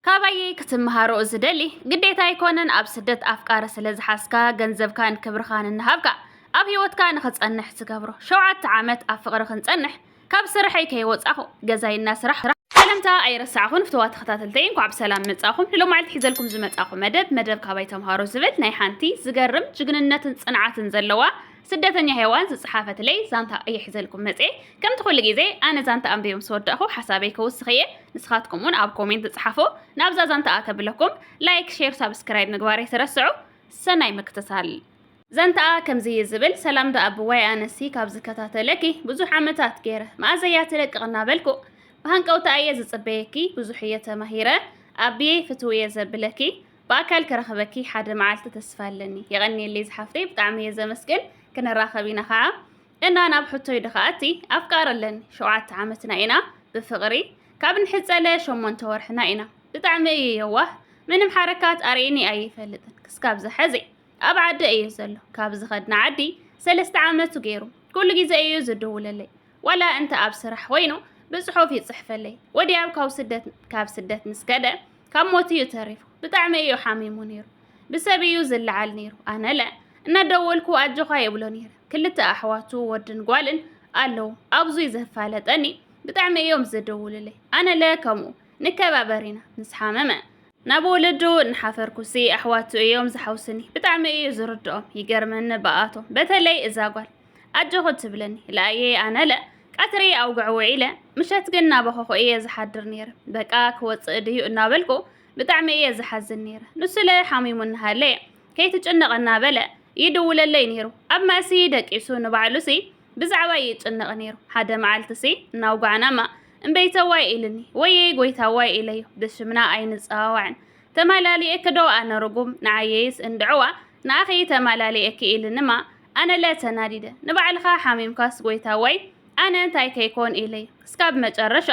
ካባየይ ክትምሃሮ ዝደሊ ግዴታ ኣይኮነን ኣብ ስደት ኣፍቃሪ ስለ ዝሓዝካ ገንዘብካን ክብርኻን እናሃብካ ኣብ ሂወትካ ንኽጸንሕ ትገብሮ ሸውዓተ ዓመት ኣብ ፍቕሪ ክንጸንሕ ካብ ስርሐይ ከይወጻኹ ገዛይ እናስራሕ ሰላምታ ኣይረሳዕኹን ፍተዋ ተኸታተልተይ እንኳዕ ብሰላም መጻኹም ንሎማዓልቲ ሒዘልኩም ዝመጻኹ መደብ መደብ ካባይ ተምሃሮ ዝብል ናይ ሓንቲ ዝገርም ጅግንነትን ጽንዓትን ዘለዋ ስደተኛ ሄዋን ዝጸሓፈትለይ ዛንታ እየ ሒዘልኩም መጽየ። ከምቲ ኩሉ ግዜ ኣነ ዛንታ ኣንቢበ ምስ ወዳእኩ ሓሳበይ ከውስኽ እየ፣ ንስኻትኩም እውን ኣብ ኮሜንት ጽሓፉ። ናብዛ ዛንታ ኣተብለኩም ላይክ ሼር ሳብስክራይብ ምግባር ኣይትረስዑ። ሰናይ ምክትታል። ዛንታኣ ከምዚ እዩ ዝብል፣ ሰላም ደኣ ኣቦዋይ ኣነሲ ካብ ዝከታተለኪ ብዙሕ ዓመታት ገይረ፣ መኣዘ እያ ትለቅቕ እናበልኩ ብሃንቀውታ እየ ዝጽበየኪ፣ ብዙሕ እየ ተማሂረ ኣቢየይ ፍትው እየ ዘብለኪ። ብኣካል ክረኽበኪ ሓደ መዓልቲ ተስፋ ኣለኒ። የቐንየለይ ዝሓፍተይ ብጣዕሚ እየ ዘመስግን ክንራኸብ ኢና ከዓ እና ናብ ሕቶይ ድኸኣቲ ኣፍቃር ኣለኒ ሸውዓተ ዓመትና ኢና ብፍቕሪ ካብ ንሕፀለ ሸሞንተ ወርሕና ኢና ብጣዕሚ እየ የዋህ ምንም ሓረካት ኣርእኒ ኣይፈልጥን ክስካብ ዝሐዚ ኣብ ዓዲ እዩ ዘሎ ካብ ዝኸድና ዓዲ ሰለስተ ዓመቱ ገይሩ ኩሉ ግዜ እዩ ዝድውለለይ ዋላ እንተ ኣብ ስራሕ ኮይኑ ብጽሑፍ ይጽሕፈለይ። ወድያብ ካብ ስደት ካብ ስደት ምስ ከደ ካብ ሞት እዩ ተሪፉ። ብጣዕሚ እዩ ሓሚሙ ነይሩ። ብሰብ እዩ ዝለዓል ነይሩ። ኣነለ እናደወልኩ ኣጆኻ ይብሎ ነይረ። ክልተ ኣሕዋቱ ወድን ጓልን ኣለዉ። ኣብዙይ ዘፋለጠኒ ብጣዕሚ እዮም ዝድውሉለይ። ኣነለ ከምኡ ንከባበር ኢና። ምስ ሓመመ ናብ ወለዱ እናሓፈርኩሲ ኣሕዋቱ እዮም ዝሓውስኒ። ብጣዕሚ እዩ ዝርድኦም። ይገርመኒ ብኣቶም በተለይ እዛ ጓል። ኣጆኺ ትብለኒ ለኣየ ኣነለ ቀትሪ ኣውግዕ ውዒለ ምሸት ግን እናበኸኹ እየ ዝሓድር ነይረ በቃ ክወፅእ ድዩ እናበልኩ ብጣዕሚ እየ ዝሓዝን ነይረ ንሱለ ሓሚሙ እናሃለየ ከይትጭነቕ እናበለ ይድውለለይ ነይሩ ኣብ ማእሲ ደቂሱ ንባዕሉሲ ብዛዕባ ይጭነቕ ነይሩ ሓደ መዓልትሲ እናውጋዕናማ እምበይተዋይ ኢልኒ ወየይ ጎይታዋይ ኢለዮ ብሽምና ኣይንፀዋዋዕን ተማላሊኤኪ ዶ ኣነ ርጉም ንዓየይስ እንድዕዋ ንኣኺ ተማላሊኤኪ ኢልንማ ኣነለ ተናዲደ ንባዕልኻ ሓሚምካስ ጎይታ ወይ ኣነ እንታይ ከይኮን ኢለዩ ክስካብ መጨረሻ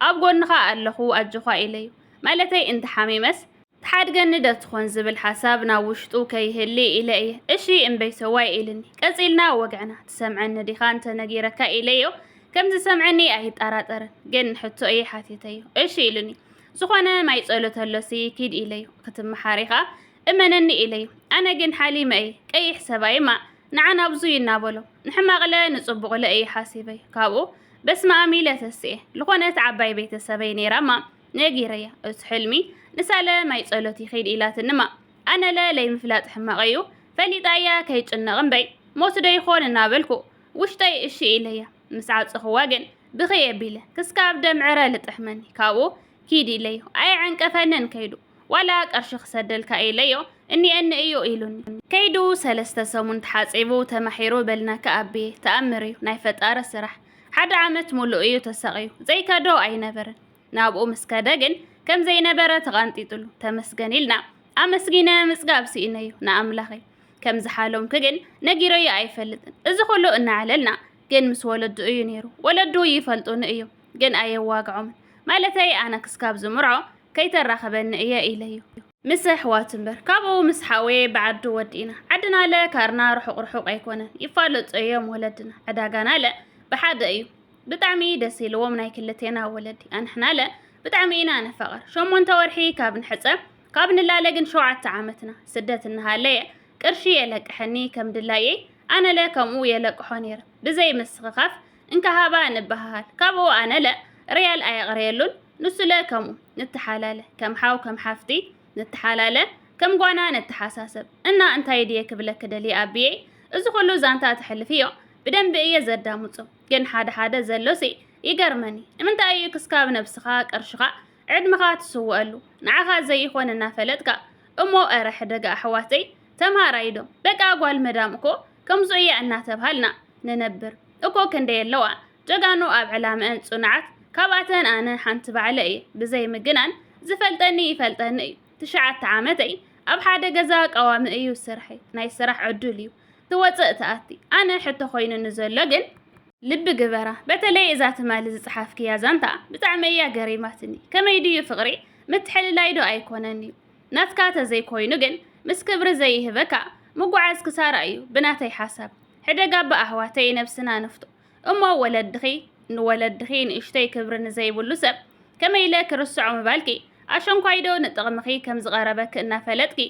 ኣብ ጎንኻ ኣለኹ ኣጆኻ ኢለዩ ማለተይ እንተሓሚመስ ትሓድገኒ ዶ ትኾን ዝብል ሓሳብ ናብ ውሽጡ ከይህሊ ኢለ እየ እሺ እምበይቶዋይ ኢልኒ ቀጺልና ወግዕና ትሰምዐኒ ዲኻ እንተነጊረካ ኢለዮ ከምዝሰምዐኒ ኣይጣራጠርን ግን ሕቶ እየ ሓቲተዮ እሺ ኢሉኒ ዝኾነ ማይ ጸሎት ኣሎሲ ኪድ ኢለዩ ክትመሓር ኢኻ እመነኒ ኢለዩ። ኣነ ግን ሓሊመ እየ፣ ቀይሕ ሰብኣይ እማ ንዓና ብዙይ እናበሎ፣ ንሕማቕለ ንጽቡቕለ እየ ሓሲበዩ። ካብኡ በስመኣም ኢለ ተሲኤ። ልኾነት ዓባይ ቤተሰበይ ነይራ እማ ነጊረያ። እቱ ሕልሚ ንሳለ ማይ ጸሎትይ ኺድ ኢላትኒ እማ፣ ኣነለ ለይምፍላጥ ሕማቐዩ፣ ፈሊጣ እያ ከይጭነቕ እምበይ ሞትዶ ይኾን እናበልኩ ውሽጠይ እሺ ኢለያ። ምስ ዓጸኹዋ ግን ብኽይ ኣቢለ ክስካብ ደም ዕረ ልጥሕመኒ። ካብኡ ኪድ ኢለዩ። ኣየዐንቀፈንን ከይዱ። ዋላ ቀርሺ ክሰደልካ ኢለዮ እኒኤኒ እዩ ኢሉኒ። ከይዱ ሰለስተ ሰሙን ተሓጺቡ ተማሒሩ በልናካ ኣቢየ ተኣምር እዩ ናይ ፈጣሪ ስራሕ ሓደ ዓመት ሙሉእ እዩ ተሳቕዩ ዘይከዶ ኣይነበረን ናብኡ ምስ ከደ ግን ከም ዘይነበረ ተቓንጢጥሉ ተመስገን ኢልና ኣመስጊነ ምጽጋብ ስኢነዩ ንኣምላኸይ ከም ዝሓለምኩ ግን ነጊረዮ ኣይፈልጥን እዚ ኩሉ እናዕለልና ግን ምስ ወለዱ እዩ ነይሩ። ወለዱ ይፈልጡኒ እዩ ግን ኣየዋግዖምን ማለተይ ኣነ ክስካብ ዝምርዖ ከይተራኽበኒ እየ ኢለ እዩ። ምስ ኣሕዋቱ እምበር ካብኡ ምስ ሓውየ ብዓዱ ወዲእና። ዓድናለ ካርና ርሑቕ ርሑቕ ኣይኮነን ይፋለጡ እዮም ወለድና። ዕዳጋናለ ብሓደ እዩ። ብጣዕሚ ደስ ኢልዎም ናይ ክልቴና ወለዲ። ኣንሕናለ ብጣዕሚ ኢና ንፋቐር። ሸሞንተ ወርሒ ካብ ንሕጸ ካብ ንላለ ግን ሸውዓተ ዓመትና። ስደት እናሃለየ ቅርሺ የለቅሐኒ ከም ድላየይ ኣነለ ከምኡ የለቅሖ ነይረ ብዘይ ምስኽኻፍ እንካ ሃባ ንበሃሃል ካብኡ ኣነለ ርያል ኣየቕርየሉን ንሱለ ከምኡ ንተሓላለ ከም ሓው ከም ሓፍቲ ንተሓላለ ከም ጓና ንተሓሳሰብ እና እንታይ ድየ ክብለኪ ደልየ ኣቢየይ እዚ ኩሉ ዛንታ ተሕልፍዮ ብደንቢ እየ ዘዳምፆ ግን ሓደ ሓደ ዘሎሲ ይገርመኒ ንምንታይ እዩ ክስካብ ነብስኻ ቅርሽኻ ዕድመኻ ትስወኣሉ ንዓኻ ዘይኾን እናፈለጥካ እሞ እረ ሕደጋ ኣሕዋተይ ተምሃራይ ዶ በቃ ጓል መዳም እኮ ከምዙ እያ እናተብሃልና ንነብር እኮ ክንደይ ኣለዋ ጀጋኑ ኣብ ዕላመኣን ፅኑዓት ካብኣተን ኣነ ሓንቲ ባዕለ እየ ብዘይ ምግናን ዝፈልጠኒ ይፈልጠኒ እዩ ትሽዓተ ዓመተይ ኣብ ሓደ ገዛ ቀዋሚ እዩ ስርሐይ ናይ ስራሕ ዕዱል እዩ ትወጽእ ትኣቲ ኣነ ሕቶ ኮይኑኒ ዘሎ ግን ልቢ ግበራ በተለይ እዛ ትማሊ ዝጽሓፍክያ ዛንታ ብጣዕሚ እያ ገሪማትኒ ከመይ ድዩ ፍቅሪ ምትሕልላይ ዶ ኣይኮነን እዩ ናትካ ተዘይ ኮይኑ ግን ምስ ክብሪ ዘይህበካ ምጉዓዝ ክሳራ እዩ ብናተይ ሓሳብ ሕደግ ኣባ ኣሕዋተይ ነብስና ንፍቶ እሞ ወለድኺ ንወለድኺ ንእሽተይ ክብሪ ንዘይብሉ ሰብ ከመይ ኢለ ክርስዖ ምባልኪ ኣሸንኳይዶ ንጥቕምኺ ከም ዝቐረበኪ እናፈለጥኪ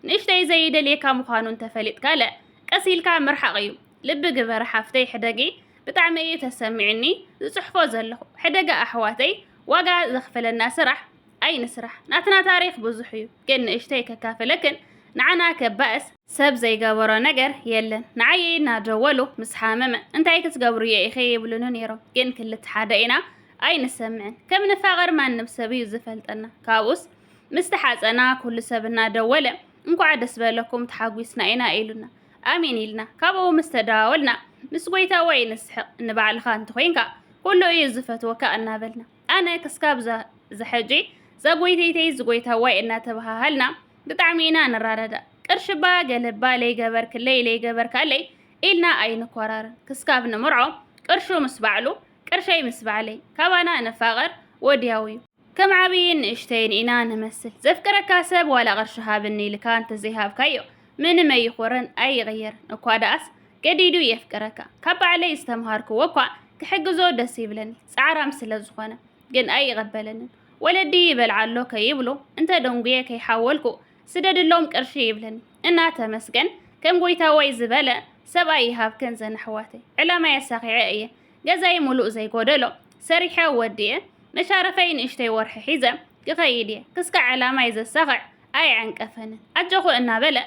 ንእሽተይ ዘይደልየካ ምዃኑ እንተፈሊጥካ ለእ ቀስ ኢልካ ምርሓቕ እዩ ልቢ ግበሪ ሓፍተይ ሕደጊ ብጣዕሚ እዩ ተሰሚዑኒ ዝጽሕፎ ዘለኹ ሕደጋ ኣሕዋተይ ዋጋ ዘኽፍለና ስራሕ ኣይንስራሕ ናትና ታሪኽ ብዙሕ እዩ ግን ንእሽተይ ከካፍለክን ንዓና ከባእስ ሰብ ዘይገበሮ ነገር የለን ንዓየይ እናደወሉ ምስ ሓመመ እንታይ ክትገብሩ እየ ኢኸ ይብሉኒ ነይሮም ግን ክልተ ሓደ ኢና ኣይንሰምዕን ከም ንፋቐር ማንም ሰብ እዩ ዝፈልጠና ካብኡስ ምስ ተሓጸና ኩሉ ሰብ እናደወለ እንኳዕ ደስ በለኩም ተሓጒስና ኢና ኢሉና ኣሜን ኢልና ካብኡ ምስ ተደዋወልና ምስ ጎይታ ወይ ንስሕቕ ንባዕልኻ እንተኾይንካ ኩሉ እዩ ዝፈትወካ እናበልና ኣነ ክስካብ ዘሐጂ ዘጎይተይተይ ዝጎይታዋይ እናተባሃሃልና ብጣዕሚ ኢና ንራዳዳእ ቅርሽባ ገለባ ለይገበርክለይ ለይገበርካለይ ኢልና ኣይንኮራርን ክስካብ ንምርዖ ቅርሹ ምስ ባዕሉ ቅርሸይ ምስ ባዕለይ ካባና ንፋቐር ወድያው እዩ ከም ዓብይን ንእሽተይን ኢና ንመስል። ዘፍቅረካ ሰብ ዋላ ቅርሺ ሃብኒ ኢልካ እንተዘይሃብካዮ ምንም ኣይኾርን ኣይቕየርን። እኳ ደኣስ ገዲዱ የፍቅረካ። ካብ ባዕለይ ዝተምሃርክዎ እኳ ክሕግዞ ደስ ይብለኒ ፃዕራም ስለዝኾነ ግን ኣይቕበለንን። ወለዲ ይበልዓ ኣሎ ከይብሉ እንተደንጉየ ከይሓወልኩ ስደድሎም ቅርሺ ይብለኒ እና ተመስገን ከም ጎይታዋይ ዝበለ ሰብኣይ ይሃብክን ዘን ኣሕዋተይ። ዕላማይ ኣሳኺዐ እየ ገዛይ ሙሉእ ዘይጎደሎ ሰሪሐ ወዲኤ መሻረፈይ ንእሽተይ ወርሒ ሒዘ ክኸይድ እየ ክስካዕ ዕላማይ ዘሳኽዕ ኣይዕንቀፈንን ኣጆኹ እናበለ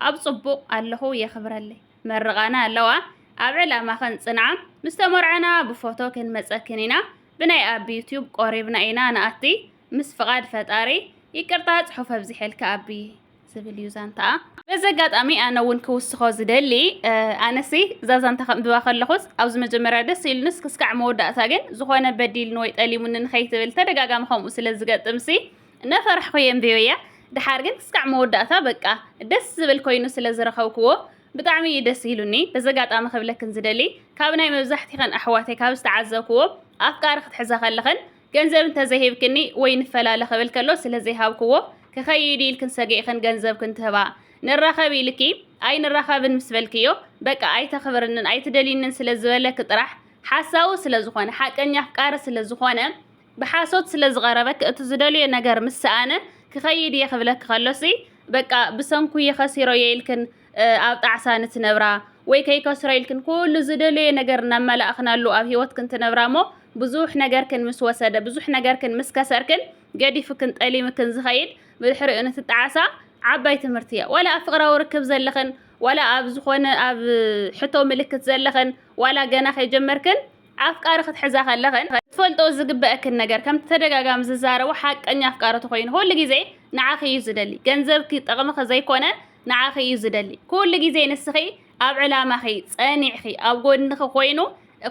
ኣብ ጽቡቕ ኣለኹ የኽብረለይ መርቓና ኣለዋ ኣብ ዕላማኽን ጽንዓ ምስ ተመርዓና ብፎቶ ክንመጸክን ኢና ብናይ ኣቢ ዩትዩብ ቆሪብና ኢና ንኣቲ ምስ ፍቃድ ፈጣሪ ይቅርታ ጽሑፍ ኣብዚሐልካ ኣቢ ዝብል እዩ ዛንታኣ። በዚ ኣጋጣሚ ኣነ እውን ክውስኾ ዝደሊ ኣነሲ እዛ ዛንታ ከንብባ ከለኹስ ኣብዚ መጀመርያ ደስ ኢሉንስ ክስካዕ መወዳእታ ግን ዝኾነ በዲልኒ ወይ ጠሊሙኒ ንኸይትብል ተደጋጋሚ ከምኡ ስለ ዝገጥምሲ እናፈራሕኹ እየ ኣንቢበያ ድሓር ግን ክስካዕ መወዳእታ በቃ ደስ ዝብል ኮይኑ ስለ ዝረኸብክዎ ብጣዕሚ እዩ ደስ ኢሉኒ በዚ ኣጋጣሚ ክብለክን ዝደሊ ካብ ናይ መብዛሕቲኸን ኣሕዋተይ ካብ ዝተዓዘብክዎ ኣፍቃሪ ክትሕዛ ከለኽን ገንዘብ እንተ ዘይሂብክኒ ወይ ንፈላለ ክብል ከሎ ስለ ዘይሃብክዎ፣ ክኸይድ ኢልክን ሰጊእክን ገንዘብክን ትህባ። ንራኸብ ኢልኪ ኣይንራኸብን ምስ በልክዮ፣ በቃ ኣይተኽብርንን ኣይትደልይንን ስለ ዝበለኪ ጥራሕ፣ ሓሳዊ ስለ ዝኾነ፣ ሓቀኛ ኣፍቃሪ ስለ ዝኾነ፣ ብሓሶት ስለ ዝቐረበኪ እቲ ዝደልዮ ነገር ምስ ሰኣነ፣ ክኸይድ እየ ክብለኪ ከሎሲ፣ በቃ ብሰንኩ ይኸሲሮ'የ ኢልክን፣ ኣብ ጣዕሳ ንትነብራ ወይ ከይከስሮ ኢልክን ኩሉ ዝደለዮ ነገር እናመላእኽናሉ ኣብ ህይወትክን ትነብራ እሞ ብዙሕ ነገርክን ምስ ወሰደ ብዙሕ ነገርክን ምስ ከሰርክን ገዲፍክን ጠሊምክን ዝኸይድ ብድሕሪኡ ንትጣዓሳ ዓባይ ትምህርቲ እያ ዋላ ኣብ ፍቅራዊ ርክብ ዘለኽን ዋላ ኣብ ዝኾነ ኣብ ሕቶ ምልክት ዘለኽን ዋላ ገና ከይጀመርክን ኣፍቃሪ ክትሕዛ ከለኽን ክትፈልጦ ዝግበእክን ነገር ከምቲ ተደጋጋሚ ዝዛረቦ ሓቀኛ ኣፍቃሪ ተኾይኑ ኩሉ ግዜ ንዓኺ እዩ ዝደሊ ገንዘብኪ ጥቕምኺ ዘይኮነ ንዓኺ እዩ ዝደሊ ኩሉ ግዜ ንስኺ ኣብ ዕላማኺ ጸኒዕኺ ኣብ ጎድንኺ ኮይኑ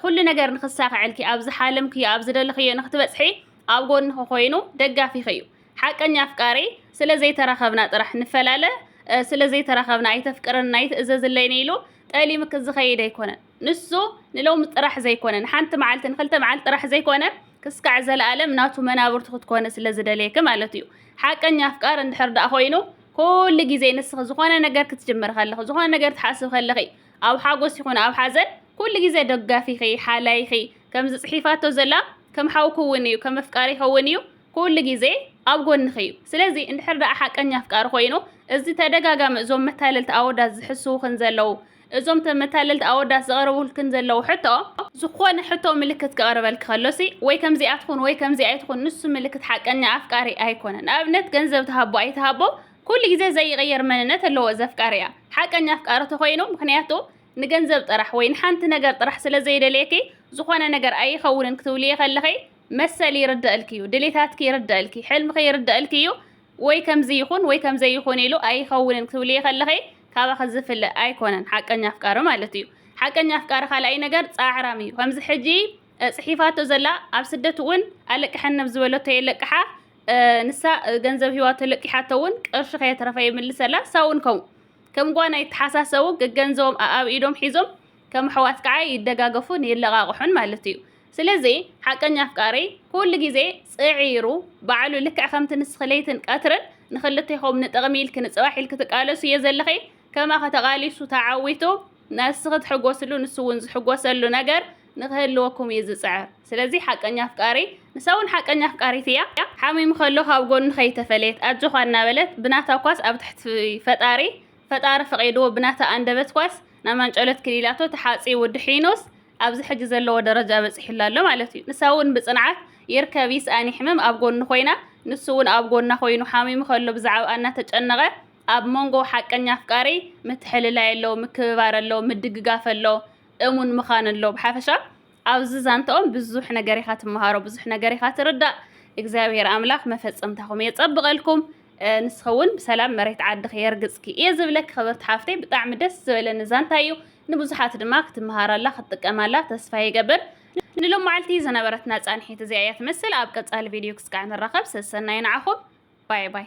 ኩሉ ነገር ንክሳኸዐልኪ ኣብ ዝሓለምክዮ ኣብ ዝደልኽዮ ንክትበጽሒ ኣብ ጎድንኺ ኮይኑ ደጋፊኺ እዩ ሓቀኛ ኣፍቃሪ ስለ ዘይተራኸብና ጥራሕ ንፈላለ ስለ ዘይተራኸብና ኣይተፍቅረና ኣይትእዘዝለይን ኢሉ ጠሊምኪ ዝኸይድ ኣይኮነን ንሱ ንሎሚ ጥራሕ ዘይኮነ፣ ንሓንቲ መዓልቲ፣ ንክልተ መዓልቲ ጥራሕ ዘይኮነ፣ ክስካዕ ዘለኣለም ናቱ መናብርቱ ክትኮኒ ስለ ዝደልየኪ ማለት እዩ። ሓቀኛ ኣፍቃሪ እንድሕር ደኣ ኮይኑ፣ ኩሉ ግዜ ንስኺ ዝኾነ ነገር ክትጅምሪ ከለኺ፣ ዝኾነ ነገር ትሓስቢ ከለኺ፣ ኣብ ሓጎስ ይኹን ኣብ ሓዘን ኩሉ ግዜ ደጋፊኺ፣ ሓላይኺ፣ ከምዚ ጽሒፋቶ ዘላ ከም ሓው ክውን እዩ፣ ከም ኣፍቃሪ ክውን እዩ፣ ኩሉ ግዜ ኣብ ጎንኺ እዩ። ስለዚ እንድሕር ደኣ ሓቀኛ ኣፍቃሪ ኮይኑ፣ እዚ ተደጋጋሚ እዞም መታለልቲ ኣወዳት ዝሕስዉኽን ዘለዉ እዞም ተመታለልቲ ኣወዳት ዝቐረቡልክን ዘለዉ ሕቶ ዝኾነ ሕቶ ምልክት ክቐርበልኪ ከሎሲ ወይ ከምዚኣ ትኹን ወይ ከምዚኣ ኣይትኹን ንሱ ምልክት ሓቀኛ ኣፍቃሪ ኣይኮነን። ንኣብነት ገንዘብ ትሃቦ ኣይትሃቦ ኩሉ ግዜ ዘይቕየር መንነት ኣለዎ እዚ ኣፍቃሪኣ። ሓቀኛ ኣፍቃሪ ተኾይኑ ምኽንያቱ ንገንዘብ ጥራሕ ወይ ንሓንቲ ነገር ጥራሕ ስለ ዘይደልየኪ ዝኾነ ነገር ኣይኸውንን ክትብልዮ ከለኺ መሰል ይርደእልኪ እዩ፣ ድሌታትኪ ይርደእልኪ፣ ሕልምኺ ይርደእልኪ እዩ፣ ወይ ከምዚ ይኹን ወይ ከምዘይ ይኹን ኢሉ ኣይኸውንን ክትብልዬ ከለኺ ካባኺ ዝፍለ ኣይኮነን ሓቀኛ ኣፍቃሪ ማለት እዩ ሓቀኛ ኣፍቃሪ ካልኣይ ነገር ጻዕራም እዩ ከምዚ ሕጂ ጽሒፋቶ ዘላ ኣብ ስደት እውን ኣለቅሐኒ ኣብ ዝበለቶ የለቅሓ ንሳ ገንዘብ ሂዋቶ ለቂሓቶ እውን ቅርሺ ከየትረፈ ይምልሰላ ሳውን ከምኡ ከም ጓና ይተሓሳሰቡ ገገንዘቦም ኣኣብ ኢዶም ሒዞም ከም ኣሕዋት ከኣ ይደጋገፉን ይለቓቕሑን ማለት እዩ። ስለዚ ሓቀኛ ኣፍቃሪ ኩሉ ግዜ ጽዒሩ ባዕሉ ልክዕ ከምቲ ንስኺ ለይትን ቀትርን ንኽልቴኹም ንጥቕሚ ኢልኪ ንጽባሕ ኢልኪ ትቃለሱ እየ ዘለኺ ከማኺ ተቓሊሱ ተዓዊቱ ንስኺ ትሕጎስሉ ንሱ እውን ዝሕጎሰሉ ነገር ንኽህልወኩም እዩ ዝጽዕር። ስለዚ ሓቀኛ ኣፍቃሪ ንሳ እውን ሓቀኛ ኣፍቃሪት እያ። ሓሚሙ ከሎ ካብ ጎኑ ከይተፈለየት ኣጆኻ እናበለት ብናታ ኳስ ኣብ ትሕቲ ፈጣሪ ፈጣሪ ፈቒድዎ ብናታ ኣንደበት ኳስ ናብ ማንጨሎት ክሊላቶ ተሓጺቡ ድሒኑስ ኣብዚ ሕጂ ዘለዎ ደረጃ በጺሑላ ኣሎ ማለት እዩ። ንሳ እውን ብጽንዓት ይርከብ ይስኣን ይሕመም ኣብ ጎኑ ኮይና ንሱ እውን ኣብ ጎና ኮይኑ ሓሚሙ ከሎ ብዛዕብኣ እናተጨነቐ ኣብ ሞንጎ ሓቀኛ ኣፍቃሪ ምትሕልላይ ኣሎ፣ ምክብባር ኣሎ፣ ምድግጋፍ ኣሎ፣ እሙን ምኻን ኣሎ። ብሓፈሻ ኣብዚ ዛንትኦም ብዙሕ ነገር ኢኻ ትመሃሮ ብዙሕ ነገር ኢኻ ትርዳእ እግዚኣብሔር ኣምላኽ መፈጸምታኹም የጸብቐልኩም ንስኸውን ብሰላም መሬት ዓድኺ የርግጽኪ እየ ዝብለኪ ክብርቲ ሓፍተይ ብጣዕሚ ደስ ዝበለኒ ዛንታ እዩ ንብዙሓት ድማ ክትመሃራላ ክትጥቀማላ ተስፋ ይገብር ንሎም መዓልቲ ዝነበረትና ጻንሒት እዚኣ እያ ትመስል ኣብ ቀጻሊ ቪድዮ ክስካዕ ንራኸብ ሰሰናይ ንዓኹም ባይ ባይ